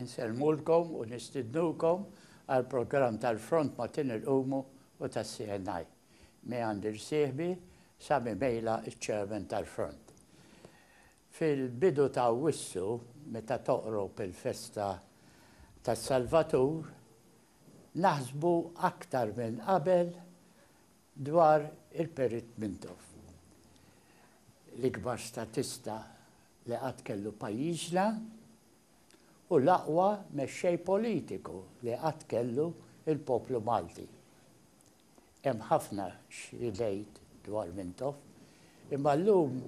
Insellmulkom u nistidnukom għall-programm tal-Front ma' Tin il-Qumu u tas-CNI. Mi għand irsieħbi, Sami Mejla ċ-Chairman tal-Front. Fil-bidu ta' Awwissu, meta toqrob il-festa tas-Salvatur, naħsbu aktar minn qabel Dwar il-Perit Mintoff, l-ikbar statista li qatt kellu pajjiżna u l-aqwa mexxej politiku li qatt kellu l-poplu Malti. Hemm ħafna x'ngħid dwar Mintoff, imma llum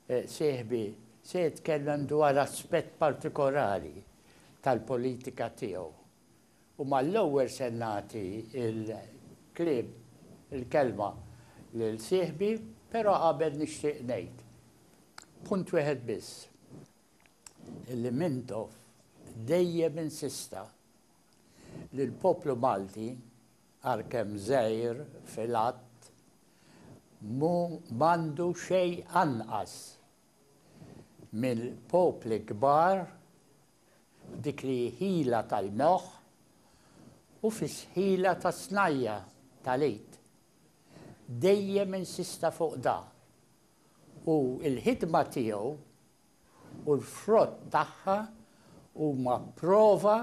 sieħbi se jitkellem dwar aspett partikolari tal-politika tiegħu. U mal-ewwel se nagħti l-kliem, il-kelma lil sieħbi, però qabel nixtieq ngħid punt wieħed biss, illi Mintoff dejjem insista li l-poplu Malti, għalkemm żgħir fil-għadd, mhu m'għandu xejn anqas mill-popli kbar, dik li hi ħila tal-moħħ u fis-ħila tas-snajja' tal-id. Dejjem insista fuq da. U l-ħidma tiegħu u l-frott tagħha huma prova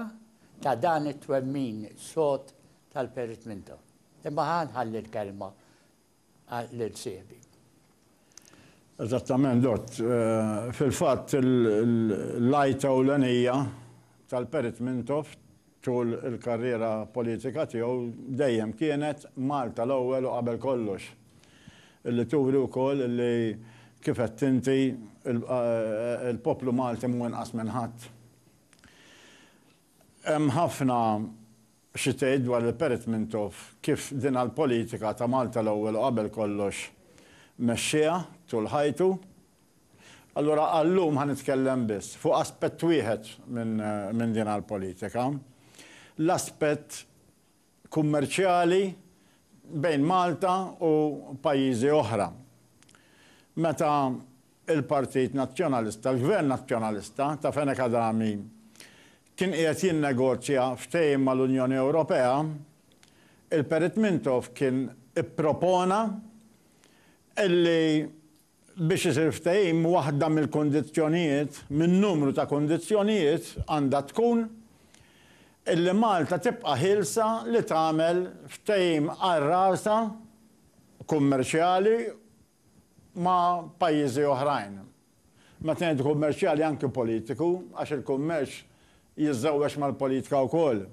ta' dan it-twemmin sod tal-Perit Minto. Imma ħa nħalli l-kelma għall-irċievi. Eżattament, Dott. Fil-fatt, l-għajta ewlenija tal-Perit Mintoff tul il-karriera politika tiegħu dejjem kienet Malta l-ewwel u qabel kollox. Li turi wkoll li, kif għedt inti, il-poplu Malti mhu inqas minn ħadd. Hemm ħafna Xi tgħid dwar il-Perit Mintoff kif din għall-politika ta' Malta l-ewwel u qabel kollox mexxiha tul ħajtu? Allura għal-lum ħa nitkellem biss fuq aspett wieħed minn din għall-politika, l-aspett kummerċjali bejn Malta u pajjiżi oħra. Meta l-Partit Nazzjonalista, l-Gvern Nazzjonalista ta' Fenech Adami kien qiegħed jinnegozja ftehim mal-Unjoni Ewropea, il-Perit Mintoff kien ippropona li biex isir ftehim waħda mill-kundizzjonijiet, minn numru ta' kundizzjonijiet, għandha tkun li Malta tibqa' ħielsa li tagħmel ftehim għal rasha kummerċjali ma' pajjiżi oħrajn. Meta ngħidu kummerċjali anki politiku għax il-kummerċ jiżżewweġ mal-politika wkoll.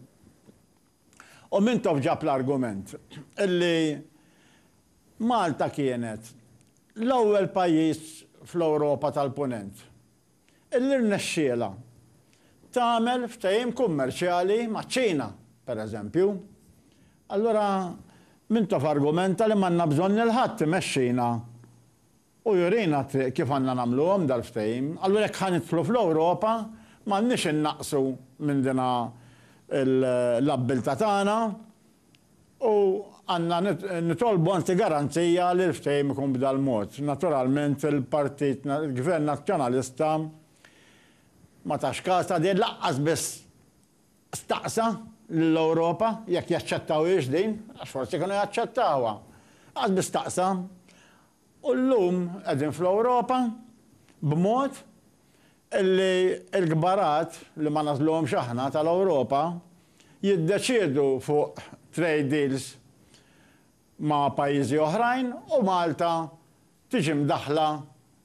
U Mintoff ġab l-argument illi Malta kienet l-ewwel pajjiż fl-Ewropa tal-Punent. Illi rnexxielha tagħmel ftehim kummerċjali maċ-Ċina, pereżempju. Allura Mintoff argumenta li m'għandna bżonn lil ħadd imexxina u jurina t-triq kif għandna nagħmluhom dal-ftehim. Allura jekk ħa nidħlu fl-Ewropa m'għandniex innaqqsu minn din l-abbiltà tagħna. U għandna nitolbu anzi garanzija li l-ftehim ikun b'dal-mod. Naturalment il-Partit, il-Gvern Nazzjonalista ma tax kas ta' din, lanqas biss staqsa lill-Ewropa jekk jaċċettawhiex din, għax forsi kienu jaċċettawha. Lanqas biss staqsa. U llum qegħdin fl-Ewropa b'mod illi l-kbarat, li ma nagħżluhomx aħna, tal-Ewropa jiddeċiedu fuq trade deals ma' pajjiżi oħrajn u Malta tiġi mdaħħla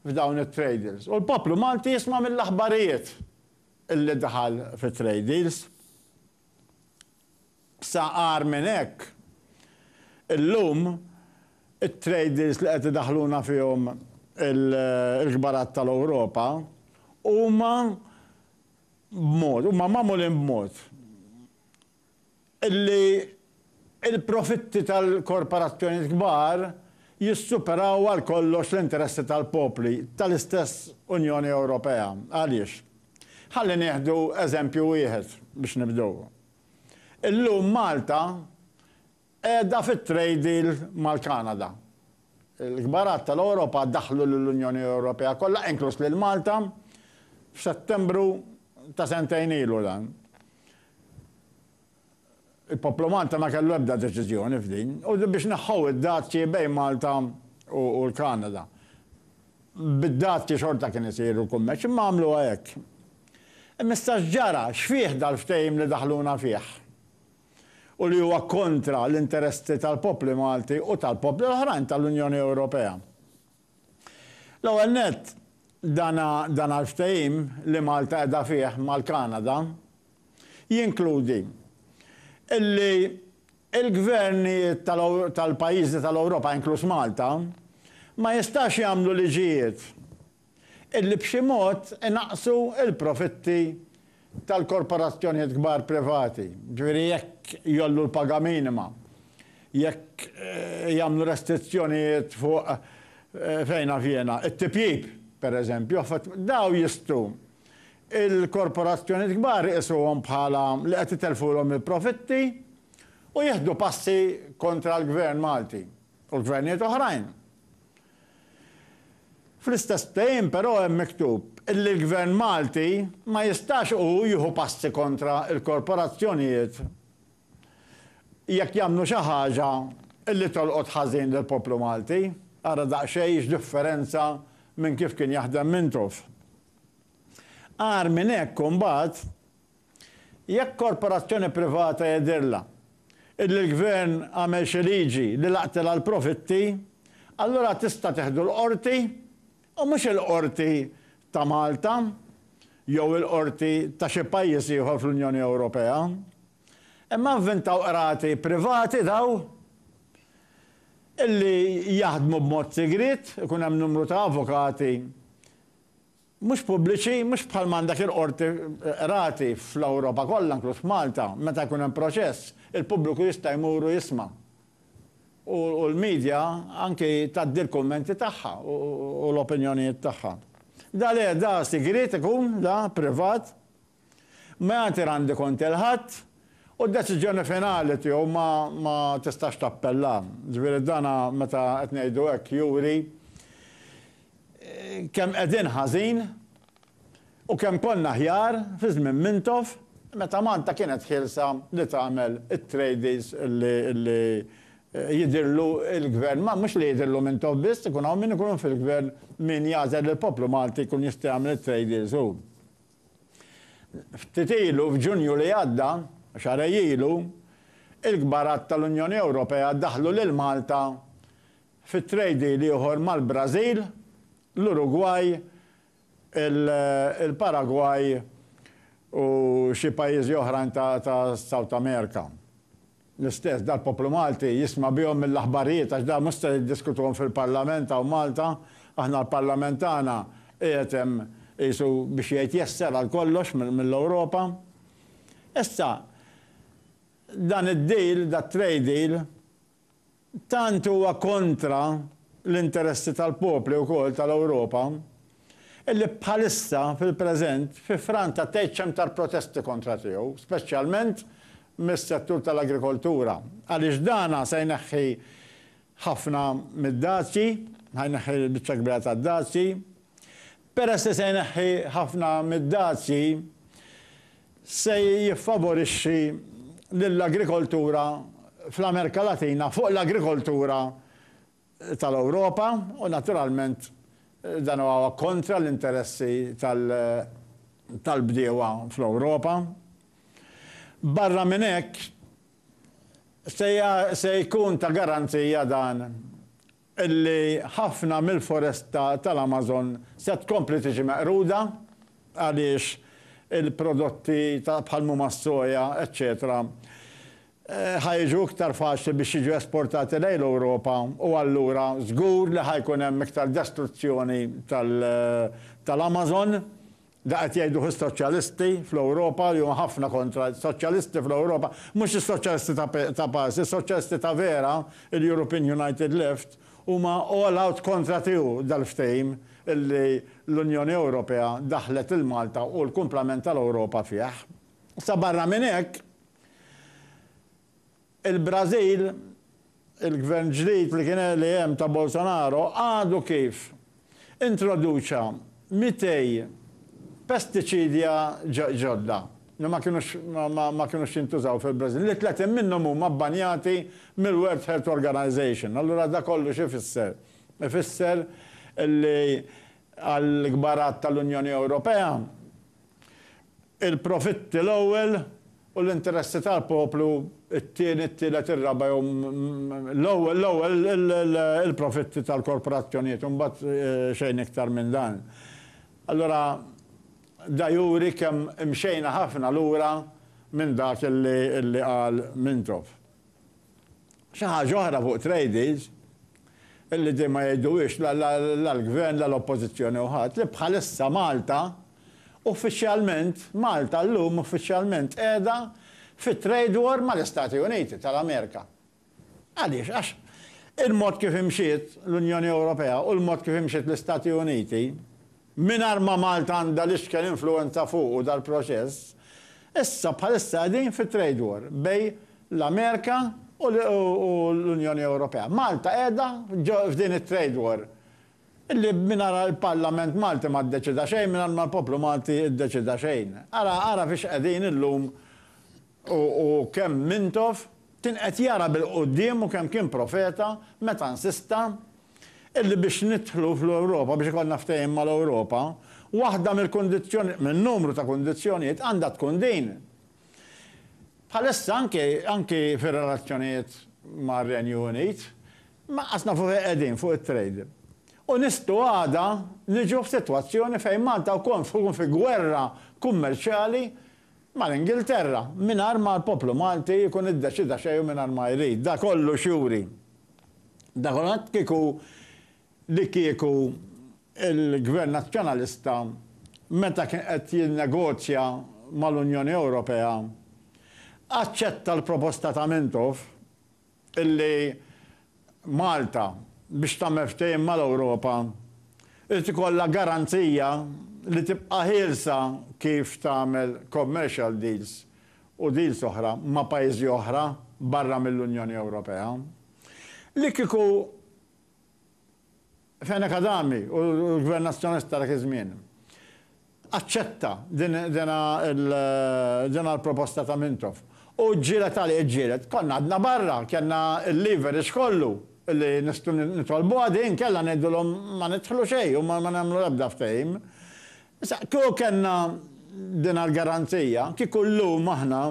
f'dawn it-trade deals. U l-poplu Malti jisma' mill-aħbarijiet illi daħal fi trade deals. Sa agħar minn hekk, illum it-traders li qed idaħħluna fihom il-kbarat tal-Ewropa huma b'mod, huma magħmulin b'mod illi l-profitti tal-korporazzjonijiet kbar jissuperaw għal kollox l-interessi tal-popli tal-istess Unjoni Ewropea. Għaliex? Ħalli nieħdu eżempju wieħed biex nibdew. Illum Malta qiegħda fit-trade deal mal-Kanada. Il-kbarat tal-Ewropa daħlu lill-Unjoni Ewropea kollha, inkluż lil Malta, f'Settembru ta' sentejn ilu dan. Il-poplu Malta ma kellu ebda deċiżjoni f'din. U biex neħħew id-dazji bejn Malta u l-Kanada. Bid-dazji xorta kien isir il-kummerċ, imma għamluha hekk. Imma issa x'ġara? X'fih dal-ftehim li daħluna fih? U li huwa kontra l-interessi tal-popli Malti u tal-popli l-oħrajn tal-Unjoni Ewropea. L-ewwel nett, dan il-ftehim li Malta qiegħda fih mal-Kanada jinkludi li l-gvernijiet tal-pajjiżi tal-Ewropa, inkluż Malta, ma jistax jagħmlu liġijiet li b'xi mod inaqqsu l-profitti tal-korporazzjonijiet kbar privati, ġifieri jekk jgħollu l-paga minima, jekk jagħmlu restrizzjonijiet fuq, fejn naf jiena, it-tipjip, pereżempju, affarijiet, dawn jistgħu l-korporazzjonijiet kbar iqisuhom bħala li qed itelfulhom il-profitti u jieħdu passi kontra l-Gvern Malti u l-gvernijiet oħrajn. Fl-istess ftehim però hemm miktub illi l-Gvern Malti ma jistax hu jieħu passi kontra l-korporazzjonijiet jekk jagħmlu xi ħaġa illi tolqot ħażin lill-poplu Malti. Ara daqsxejn x'differenza minn kif kien jaħdem Mintoff. Agħar minn hekk imbagħad Jekk korporazzjoni privata jidhirlha illi l-gvern għamel xi liġi li laqtilha l-profitti, allura tista' teħdu l-Qorti u mhux il-Qorti ta' Malta jew il-Qorti ta' xi pajjiż ieħor fl-Unjoni Ewropea. Imma vvintaw qrati privati daw illi jaħdmu b'mod sigriet, ikun hemm numru ta' avukati, mhux pubbliċi, mhux bħal m'għandek il-qorti, qrati fl-Ewropa kollha inkluż f'Malta, meta jkun hemm proċess, il-pubbliku jista' jmur u jisma'. U l-media anki tgħaddi l-kummenti tagħha u l-opinjonijiet tagħha. Da le, da sigriet ikun, da privat. Meander għandi kont il-Ħadd u d-deċiżjoni finali tiegħu ma ma tistax tappella. Ġifieri dan meta qed ngħidu hekk juri kemm qegħdin ħażin u kemm konna aħjar fi żmien Mintoff meta Malta kienet ħielsa li tagħmel it-trades li li jidhirlu l-Gvern ma mhux li jidhirlu Mintoff biss ikun hawn min ikun fil-Gvern min jagħżel lill-poplu Malti jkun jista' jagħmel it-trade deals hu. Ftit ilu, f'Ġunju li għadda, xahrejn ilu, il-kbarat tal-Unjoni Ewropea daħħlu lil Malta fi trade deal ieħor mal-Brażil, l-Urugwaj, il-Paragwaj u xi pajjiżi oħrajn ta' South America. L-istess dal-poplu Malti jisma' bihom mill-aħbarijiet għax dawn mhux se jiddiskutuhom fil-Parlament hawn Malta. Aħna l-Parlament tagħna qiegħed hemm qisu biex jgħid jesser għal kollox mill-Ewropa. Issa dan id-deal, dat-trade deal, Tant huwa kontra l-interessi tal-popli wkoll tal-Ewropa illi bħalissa, fil-preżent, fi Franza tgħidx hemm tar protesti kontra tiegħu, speċjalment mis-settur tal-agrikoltura, għaliex dan se jneħħi ħafna mid-dazji, ħa jneħħi l-biċċa l-kbira tad-dazji. Peress li se jneħħi ħafna mid-dazji, se jiffavorixxi lill-agrikoltura fl-Amerika Latina fuq l-agrikoltura tal-Ewropa u naturalment dan huwa kontra l-interessi tal-bdiewa fl-Ewropa. Barra minn hekk, se jkun ta' garanzija dan li ħafna mill-foresta tal-Amazon se tkompli tiġi meqruda għaliex il-prodotti ta' bħal huma s-soja eċċetera ħa jiġu iktar faċli biex jiġu esportati lejn l-Ewropa u allura żgur li ħa jkun hemm iktar destruzzjoni tal-Amazon Dak qed jgħiduh is-Soċjalisti fl-Ewropa li huma ħafna kontra. Soċjalisti fl-Ewropa, mhux is-Soċjalisti ta' pass, is-Soċjalisti ta' vera, il-European United Left, huma all out kontra tiegħu dal-ftehim li l-Unjoni Ewropea daħħlet lil Malta u l-kumplament tal-Ewropa fih. Sa barra minn hekk, Il-Brażil, il-Gvern ġdid li kien li hemm ta' Bolsonaro għadu kif introduċa 200 pestiċidja ġodda li ma kinux ma kinux jintużaw fil-Brażil, li 30 minnhom huma bbanjati mill-World Health Organization. Allura dak kollu x'ifisser? Ifisser li għall-kbar għadd tal-Unjoni Ewropea, il-profitti l-ewwel, U l-interessi tal-poplu, it-tieni, it-tielet, ir-raba' jew l-ewwel il-profitti tal-korporazzjonijiet u mbagħad xejn iktar minn dan. Allura da juri kemm imxejna ħafna lura minn dak li qal Mintoff. Xi ħaġa oħra fuq tradies, illi din ma jgħiduhiex la l-Gvern la l-Oppożizzjoni u ħadd, li bħalissa Malta uffiċjalment, Malta llum uffiċjalment qiegħda fi trade war mal-Istati Uniti tal-Amerika. Għaliex? Għax il-mod kif imxiet l-Unjoni Ewropea u l-mod kif imxiet l-Istati Uniti, Mingħajr ma Malta għandha l-ixken influwenza fuqu dal-proċess, issa bħalissa qegħdin fi trade war bejn l-Amerika u l-Unjoni Ewropea. Malta qiegħda f'din it-trade war li mingħajrha l-Parlament Malti ma ddeċida xejn, mingħajr ma l-poplu Malti ddeċida xejn. Ara ara fiex qegħdin illum U kemm Mintoff kien qed jara bil-quddiem u kemm kien profeta meta nsista illi biex nidħlu fl-Ewropa, biex ikollna ftehim mal-Ewropa, waħda mill-kundizzjoni, minn numru ta' kundizzjonijiet għandha tkun din. Bħalissa anki, anki fir-relazzjonijiet mar-Renju Unit, m'aqqas nafu fejn qegħdin fuq it-trade. U nistgħu għada niġu f'sitwazzjoni fejn Malta wkoll tkun fi gwerra kummerċjali mal-Ingilterra, mingħajr ma l-poplu Malti jkun iddeċida xejn u mingħajr ma jrid. Dan kollu x'juri? Dan kollu juri kieku li kieku l-Gvern Nazzjonalista meta kien qed jinnegozja mal-Unjoni Ewropea aċċetta l-proposta ta' Mintoff illi Malta biex tagħmel ftehim mal-Ewropa irid ikollha garanzija li tibqa' ħielsa kif tagħmel commercial deals u deals oħra ma' pajjiżi oħra barra mill-Unjoni Ewropea li kieku Fehena Kadami u l-Gvern Nazzjonalista ta' dak iż-żmien aċċetta dina l-proposta ta' Mintoff u ġġieled għaliha, ġġieled. Konna għadna barra, kellna l-leverage kollu li nistgħu nitolbuha din, kellha ngħidulhom ma nidħlu xejn u ma nagħmlu l-ebda ftehim. Issa, kieku kellna dina l-garanzija, kieku llum aħna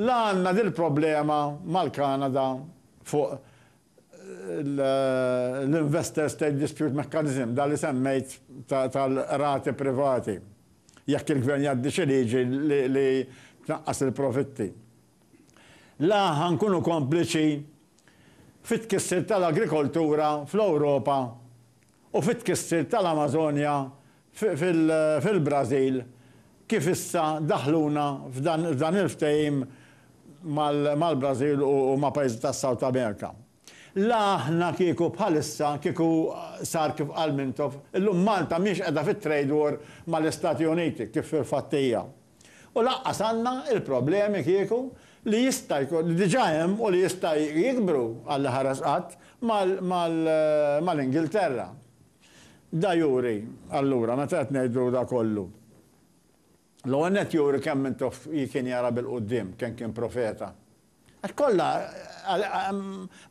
la għandna dil-problema mal-Kanada fuq l-Investor State Dispute Mechanism, dak li semmejt tal-qrati privati, jekk il-Gvern jgħaddi xi liġi li tnaqqas il-profitti. La ħa nkunu kompliċi fit-tkissir tal-agrikoltura fl-Ewropa u fit-tkissir tal-Amażonja fil-Brażil kif issa daħħluna f'dan il-ftehim mal-Brażil u ma' pajjiżi tas-South America. La aħna kieku bħalissa kieku sar kif qal Mintoff, illum Malta mhiex qiegħda fit-trade war mal-Istati Uniti kif fil-fatt hija. U lanqas għandna l-problemi kieku li jista' jkun, li diġà hemm u li jista' jikbru Alla ħares qatt, mal-Ingilterra. Da juri, allura, meta qed ngħidu da kollu, l-ewwel nett juri kemm minn Toff kien jara bil-quddiem, kemm kien profeta. Għax kollha,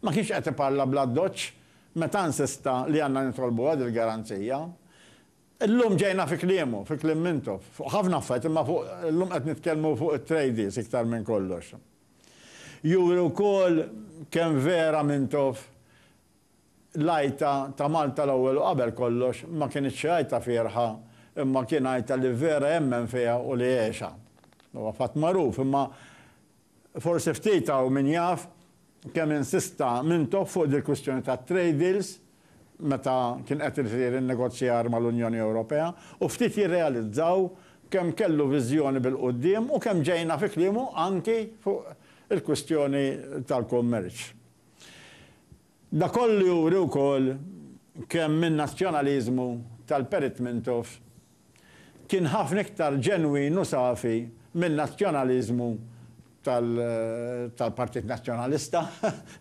ma kienx qed iparla bl-addoċċ meta nsista li għandna nitolbuha dil-garanzija. Illum ġejna fi kliemu, fi kliem Mintoff, fuq ħafna affarijiet imma fuq, illum qed nitkellmu fuq it-tradies iktar minn kollox. Juri wkoll kemm vera Mintoff l-għajta ta' Malta l-ewwel u qabel kollox ma kinitx xi għajta fierħa imma kien għajta li vera jemmen fiha u li għexha. Huwa fatt magħruf imma Forsi ftit hawn min jaf kemm insista Mintoff fuq dil-kwistjoni tat-trade deals meta kien qed isir in-negozjar mal-Unjoni Ewropea u ftit jirrealizzaw kemm kellu viżjoni bil-quddiem u kemm ġejna fi kliemu anki fuq il-kwistjoni tal-kummerċ. Dak kollu juri wkoll kemm in-nazzjonaliżmu tal-Perit Mintoff kien ħafna iktar ġenwin u safi min-nazzjonaliżmu tal-Partit Nazzjonalista.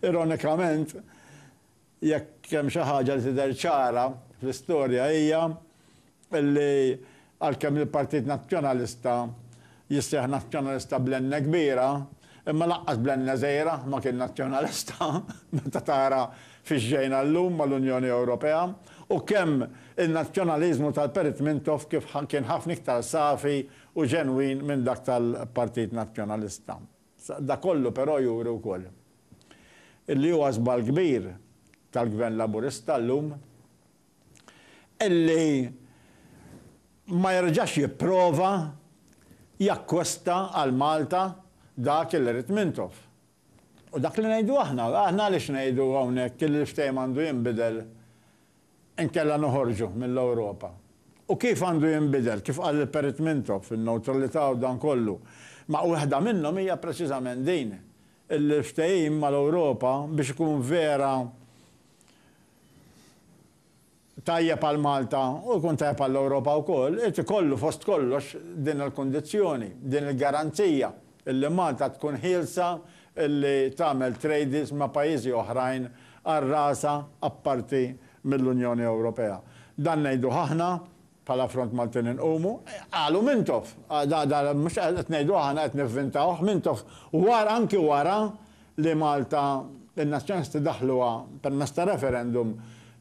Ironikament, jekk hemm xi ħaġa li tidher ċara fl-istorja hija Illi għalkemm il-Partit Nazzjonalista jisseħ Nazzjonalista bl-N kbira, imma lanqas bl-N żgħira ma kien Nazzjonalista, meta tara fiex ġejna llum mal-Unjoni Ewropea, u kemm in-Nazzjonaliżmu tal-Perit Mintoff kif kien ħafna iktar safi u ġenwin minn dak tal-Partit Nazzjonalista. Dak kollu però juri wkoll illi huwa żball kbir tal-Gvern Laburista llum, illi ma jerġax jipprova jakkwesta għal Malta dak illi ried Mintoff. U dak li ngħidu aħna, aħna għaliex ngħidu hawnhekk illi l-ftehim għandu jinbidel inkella noħorġu mill-Ewropa. U kif għandu jinbidel, kif qal il-Perit Mintoff, in-newtralità u dan kollu. Ma waħda minnhom hija preċiżament din, illi l-ftehim mal-Ewropa biex ikun vera tajjeb għal Malta u jkun tajjeb għall-Ewropa wkoll, irid ikollu fost kollox din il-kundizzjoni, din il-garanzija illi Malta tkun ħielsa illi tagħmel trades ma' pajjiżi oħrajn għal rasha apparti mill-Unjoni Ewropea. Dan ngħiduh aħna Bħala Front Maltin inqumu, qalu Mintoff. Mhux qed ngħidu aħna, qed nivvintawh, Mintoff wara, anki wara li Malta, in-Nazzjonisti daħluha permezz ta' referendum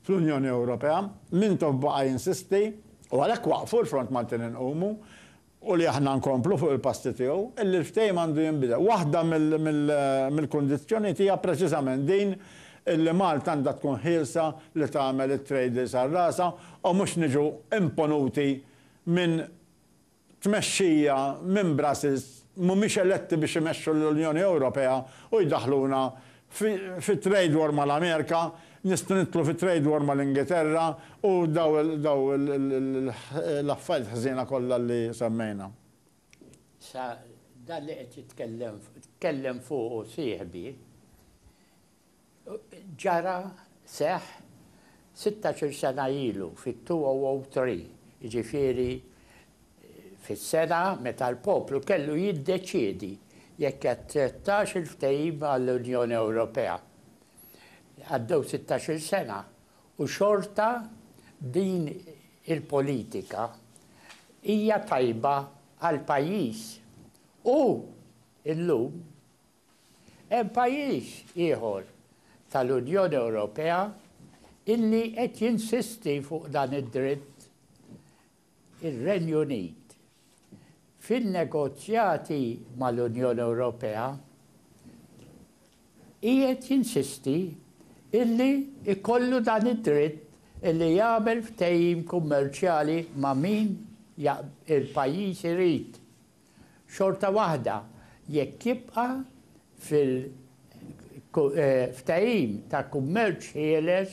fl-Unjoni Ewropea, Mintoff baqa' jinsisti u għalhekk waqqfu l-Front Maltin Inqumu u li aħna nkomplu fuq il-passi tiegħu, illi l-ftehim għandu jinbidel. Waħda mill-kundizzjonijiet hija preċiżament din illi Malta għandha tkun ħielsa li tagħmel it-trade deals għal rasha u mhux niġu imponuti minn tmexxija minn Brussels mhumiex eletti biex imexxu lill-Unjoni Ewropea u jdaħħluna Fi trade war ma' l-Amerika, nistgħu nidħlu fi trade war ma' l-Ingilterra u daw l-affarijiet ħżiena kollha li semmejna. Sa dan li qed jitkellem tkellem fuqu sieħbi, ġara, seħħ, sittax-il sena ilu, fit-2003, jiġifieri fis-sena meta l-poplu kellu jiddeċiedi jekk jaċċettax il-ftehim għall-Unjoni Ewropea. Għaddew sittax-il sena u xorta din il-politika hija tajba għall-pajjiż. U llum hemm pajjiż ieħor tal-Unjoni Ewropea illi qed jinsisti fuq dan id-dritt. ir-Renju Unit, fin-negozjati mal-Unjoni Ewropea, qiegħed jinsisti illi jkollu dan id-dritt illi jagħmel ftehim kummerċjali ma' min il-pajjiż irid, xorta waħda jekk jibqa' fil-ftehim ta' kummerċ ħieles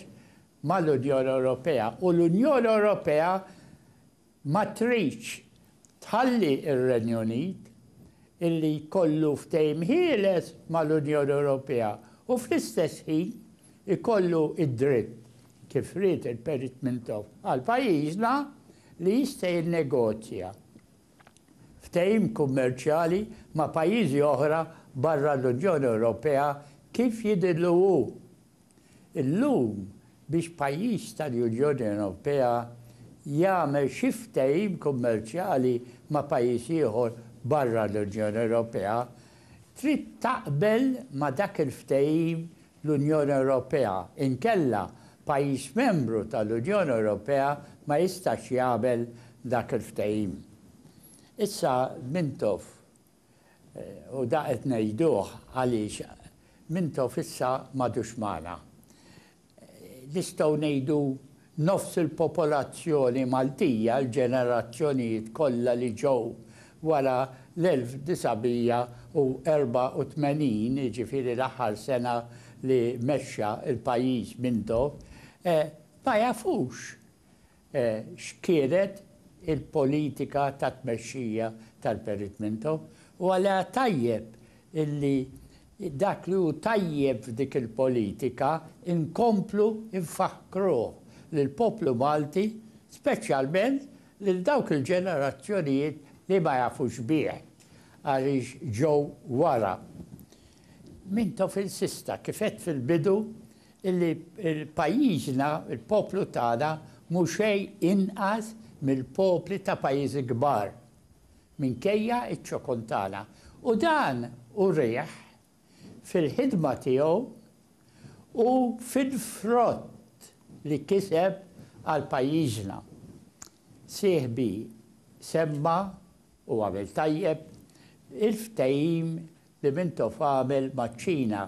mal-Unjoni Ewropea u l-Unjoni Ewropea ma tridx tħalli r-Renju Unit illi jkollu ftehim ħieles mal-Unjoni Ewropea u fl-istess ħin ikollu d-dritt, kif ried il-Perit Mintoff għal pajjiżna, li jista' jinnegozja ftehim kummerċjali ma' pajjiżi oħra barra l-Unjoni Ewropea kif jidhirlu hu. Illum, biex pajjiż tal-Unjoni Ewropea jagħmel xi ftehim kummerċjali ma' pajjiż ieħor barra l-Unjoni Ewropea, trid taqbel ma' dak il-ftehim l-Unjoni Ewropea, inkella pajjiż membru tal-Unjoni Ewropea ma jistax jagħmel dak il-ftehim. Issa Mintoff. U da qed ngħiduh għaliex Mintoff issa m'għadux magħna. Nistgħu ngħidu nofs il-popolazzjoni Maltija, l-ġenerazzjonijiet kollha li ġew wara l-1984, jiġifieri l-aħħar sena li mexxa l-pajjiż Mintoff, ma jafux x'kienet il-politika ta' tmexxija tal-Peritmento u għaliha tajjeb li dak li hu tajjeb f'dik il-politika nkomplu nfakkruh lill-poplu Malti, speċjalment lil dawk il-ġenerazzjonijiet li ma jafux bih għaliex ġew wara. Mintofil s'issa, kif għedt fil-bidu, illi pajjiżna, il-poplu tagħna mhu xejn inqas mill-popli ta' pajjiżi kbar, minkejja ċ-ċokon tagħna. U dan urieh fil-ħidma tiegħu u fil-frott li kiseb għal pajjiżna. Sieħbi semma, u għamel tajjeb, il-ftehim li Mintoff għamel maċ-Ċina.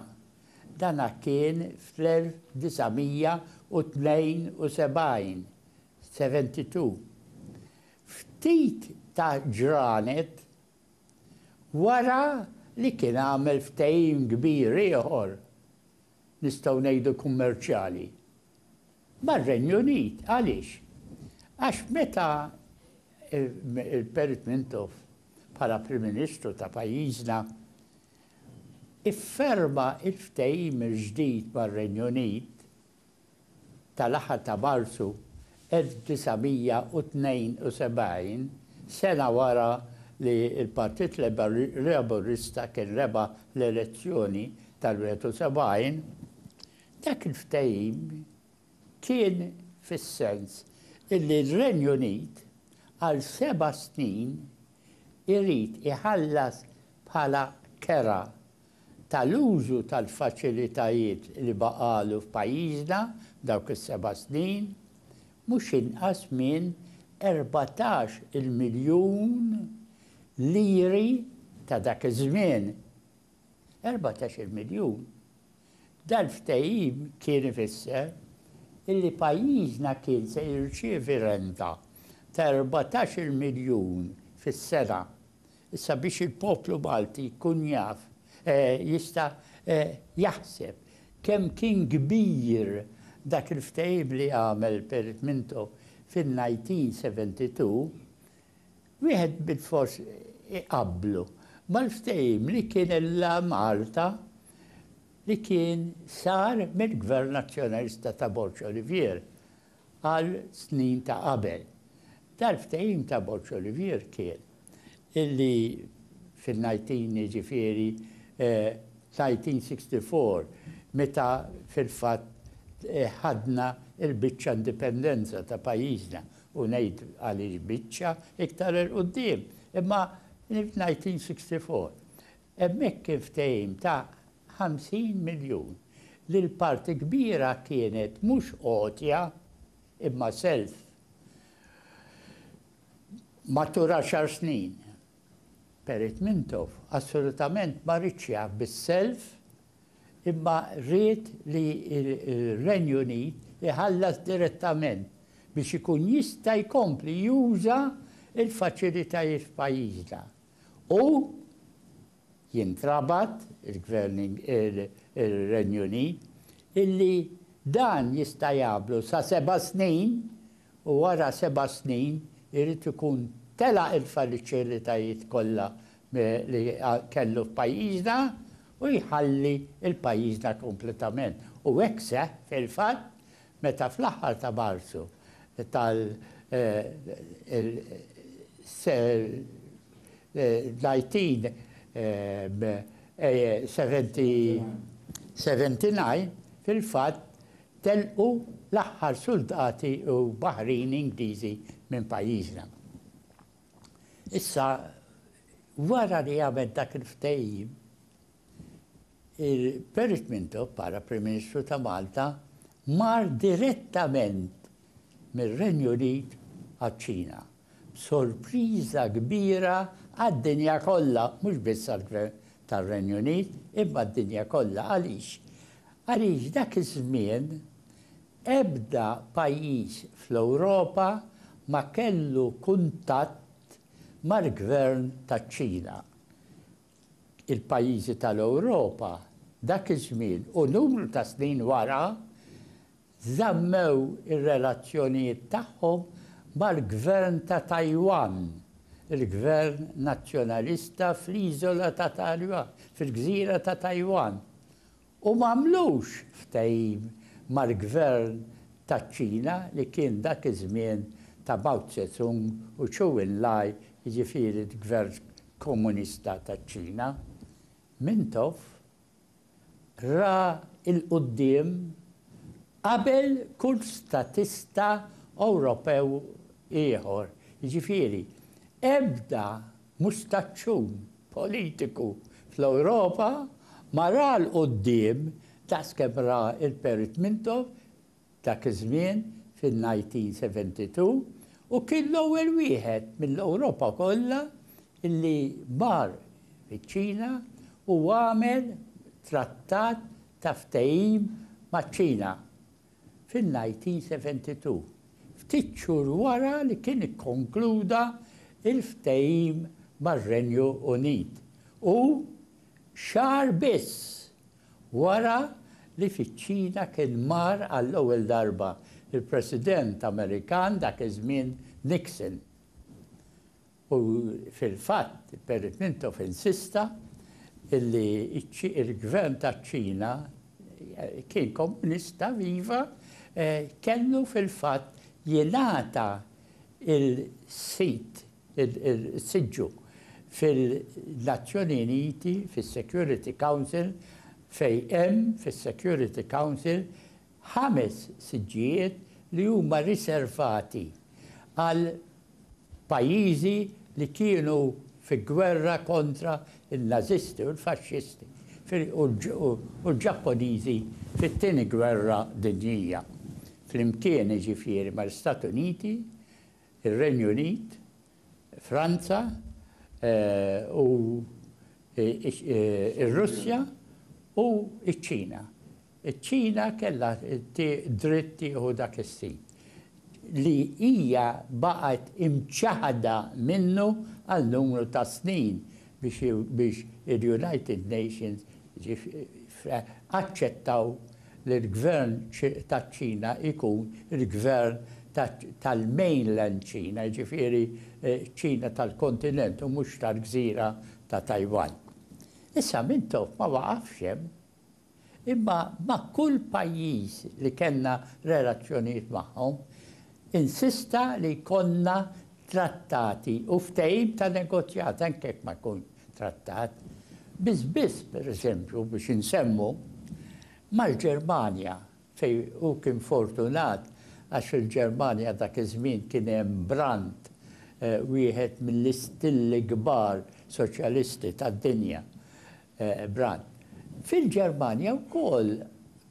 Dan kien fl-1972, 72. Ftit ta' ġranet wara li kien għamel ftehim kbir ieħor nistgħu ngħidu kummerċjali, mar-Renju Unit. Għaliex? Għax meta Perit Mintoff bħala Prim Ministru ta' pajjiżna ifferma l-ftehim il-ġdid mar-Renju Unit, tal-aħħar ta' Marzu 1972, sena wara li l-Partit Laburista kien rebaħ l-elezzjoni tal-71, dak il-ftehim kien fis-sens illi r-Renju Unit għal seba' snin irid iħallas bħala kera tal-użu tal-faċilitajiet li baqgħalu f'pajjiżna f'dawk is-seba' snin, mhux inqas minn erbatax il-miljun liri ta' dak iż-żmien. Erbatax il-miljun! Dal-ftehim kien ifisser illi pajjiżna kien se jirċievi renta ta' erbatax il-miljun fis-sena Issa biex il-poplu Malti jkun jaf, jista' jaħseb kemm kien kbir dak il-ftehim li għamel Perit Minto fin-1972, wieħed bilfors iqabblu mal-ftehim li kien illa Malta li kien sar mill-Gvern Nazzjonalista ta' Borg Olivier għal snin ta' qabel. Dal-ftehim ta' Borg-Olivier kien illi fin-19 jiġifieri 1964 meta fil-fatt ħadna l-biċċa indipendenza ta' pajjiżna u ngħid għaliex biċċa iktar 'il quddiem imma 1964 Hemmhekk kien ftehim ta' 50 miljun li l-parti kbira kienet mhux għotja imma self matul għaxar snin. Perit Mintoff assolutament ma riedx jaf bis-self imma ried li r-Renju Unit iħallas direttament biex ikun jista' jkompli juża l-faċilitajiet f'pajjiżna. U jintrabat ir-Renju Unit illi dan jista' jagħmlu sa seba' snin u wara seba' snin irid ikun telaq il-faliċilitajiet kollha li kellu f'pajjiżna u jħalli l-pajjiżna kompletament. U hekk seħħ fil-fatt Meta fl-aħħar ta' Marzu tal l-1979 fil-fatt telqu l-aħħar suldati u baħrin Ingliżi minn pajjiżna. Issa wara li għamel dak il-ftehim, Perrot Mintoff bħala Prim Ministru ta' Malta mar direttament mir-Renju Unit għaċ-Ċina, b'sorpriża kbira għad-dinja kollha, mhux biss għall-Gvern tar-Renju Unit, imma għad-dinja kollha. Għaliex? Għaliex dak iż-żmien ebda pajjiż fl-Ewropa ma kellu kuntatt mal-Gvern taċ-Ċina. il-pajjiżi tal-Ewropa dak iż-żmien u numru ta' snin wara żammew ir-relazzjonijiet tagħhom mal-Gvern ta' Tajwan, il-Gvern Nazzjonalista fl-iżola ta' Tajwan, fil-gżira ta' Tajwan, u m'għamlux ftehim mal-gvern taċ-Ċina li kien dak iż-żmien ta' Mao Tse-tung u Chou En-lai, jiġifieri l-gvern komunista taċ-Ċina, Mintoff ra 'l quddiem qabel kull statista Ewropew ieħor, jiġifieri ebda mustaċċun politiku fl-Ewropa ma ra 'l quddiem daqs kemm ra l-Perit Mintoff dak iż-żmien fin-1972 u kien l-ewwel wieħed mill-Ewropa kollha li mar fiċ-Ċina u għamel trattat ta' ftehim maċ-Ċina. fin-1972, ftit xhur wara li kien ikkonkluda l-ftehim mar-Renju Unit u xahar biss wara li fiċ-Ċina kien mar għall-ewwel darba l-President Amerikan dak iż-żmien Nixon. U fil-fatt, Perry Mintoff insista li l-Gvern taċ-Ċina kien komunista viva kellu fil-fatt jingħata l-sit, is-siġġu fil-Nazzjoni Uniti, fis-Security Council fejn hemm fis-Security Council ħames siġġijiet li huma riservati għal Pajjiżi li kienu fi gwerra kontra n-Nażisti u l-Faxxisti u l-Ġappuniżi fit-Tieni Gwerra Dinjija, flimkien jiġifieri mal-Istati Uniti, ir-Renju Unit, Franza u r-Russja u ċ-Ċina. Iċ-Ċina kellha dritt tieħu dak is-sit li hija baqgħet imċaħħda minnu għal numru ta' snin biex il-United Nations aċċettaw li l-Gvern taċ-Ċina jkun il-Gvern tal-mainland Ċina, jiġifieri ċ-Ċina tal-kontinent u mhux tal-gżira ta' Tajwan. Issa Mintoff ma waqafx hemm. Imma ma' kull pajjiż li kellna relazzjonijiet magħhom, insista li jkollna trattati u ftehim ta' negozjat, anke jekk ma jkunx trattat. Biss biss, pereżempju, biex insemmu, mal-Ġermanja fejn hu kien fortunat għax fil-Ġermanja dak iż-żmien kien hemm Brandt, wieħed mill-istilli kbar soċjalisti tad-dinja, Brandt. Fil-Ġermanja wkoll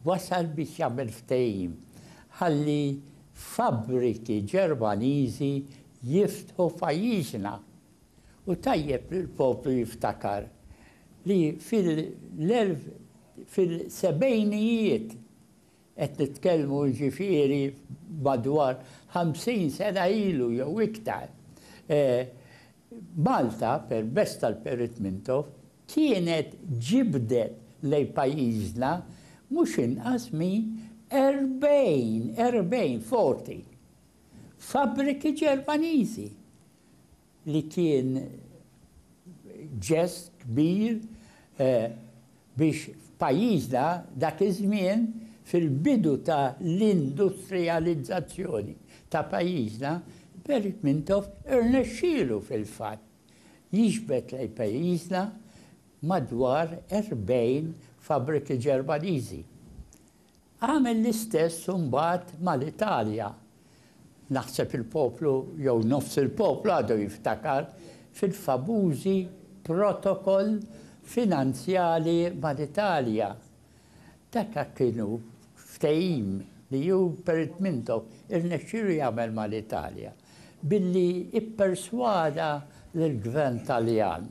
wasal biex jagħmel ftehim ħalli fabbriki Ġermaniżi jiftħu f'pajjiżna. Hu tajjeb li l-poplu jiftakar li fil-sebgħinijiet, qed nitkellmu jiġifieri madwar ħamsin sena ilu jew iktar, Malta, permezz tal-Perit Mintoff, kienet ġibdet lejn pajjiżna mhux inqas minn erbgħin, erbgħin, forty, fabbriki Ġermaniżi. li kien ġest kbir biex f'pajjiżna dak iż-żmien fil-bidu ta' l-industrijalizzazzjoni ta' pajjiżna Perit Mintoff irnexxielu fil-fatt jiġbed lejn pajjiżna madwar 40 fabbriki Ġermaniżi. Għamel l-istess imbagħad mal-Italja. Naħseb il-poplu jew nofs il-poplu għadu jiftakar fil-famużi protokoll finanzjali mal-Italja. Daka kienu ftehim li hu Perit Mintoff irnexxielu jagħmel mal-Italja billi pperswada lill-Gvern Taljan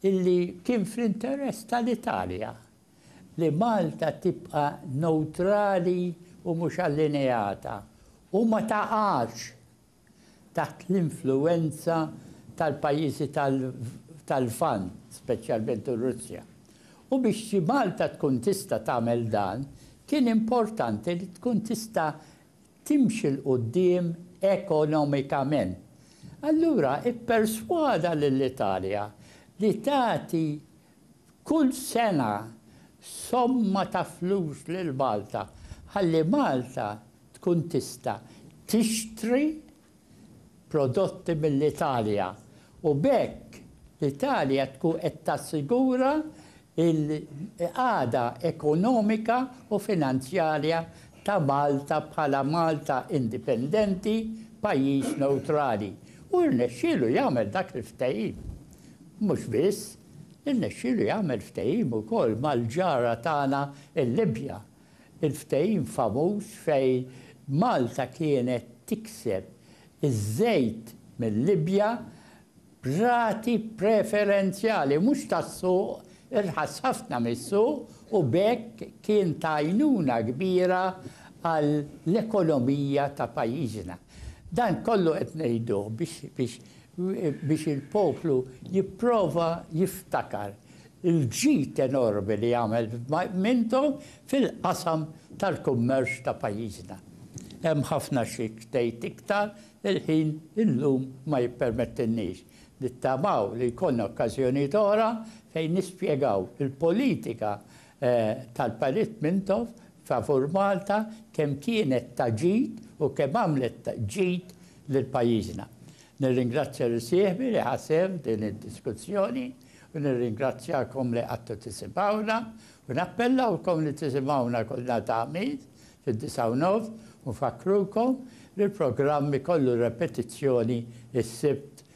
illi kien fl-interess tal-Italja. li Malta tibqa' newtrali u mhux allineata u ma taqax taħt l-influwenza tal-pajjiżi tal-Lvant, speċjalment ir-Russja. U biex xi Malta tkun tista' tagħmel dan, kien importanti li tkun tista' timxi 'l quddiem ekonomikament. Allura pperswada lill-Italja li tagħti Kull sena somma ta' flus lil Malta ħalli Malta tkun tista' tixtri prodotti mill-Italja u b'hekk l-Italja tkun qed tassigura l-qagħda ekonomika u finanzjarja ta' Malta bħala Malta indipendenti, pajjiż newtrali. U rnexxielu jagħmel dak il-ftehim. Mhux biss, irnexxielu jagħmel ftehim ukoll mal-ġara tagħna l-Libja. Il-ftehim famuż fejn Malta kienet tikseb iż-żejt mil-Libja b'rati preferenzjali, mhux tas-suq, irħas ħafna mis-suq u b'hekk kien ta' għajnuna kbira għall-ekonomija ta' pajjiżna. Dan kollu qed ngħiduh biex biex il-poplu jipprova jiftakar il-ġid enormi li għamel Minto fil-qasam tal-kummerċ ta' pajjiżna. Hemm ħafna xi tgħid iktar, il-ħin illum ma jippermettilniex. Nittamaw li jkollna okkażjonijiet oħra fejn nispjegaw il-politika tal-Parit Mintoff favur Malta kemm kienet ta' ġid u kemm għamlet ta' ġid lil pajjiżna. Nirringrazzja lil sieħbi li ħa sehem f'din id-diskussjoni u nirringrazzjakom li qgħadtu tisimgħuna u nappellawkom li tisimgħuna kull nhar ta' Ħamis fid-disgħa u nofs u nfakkrukom li l-programm ikollu repetizzjoni s-Sibt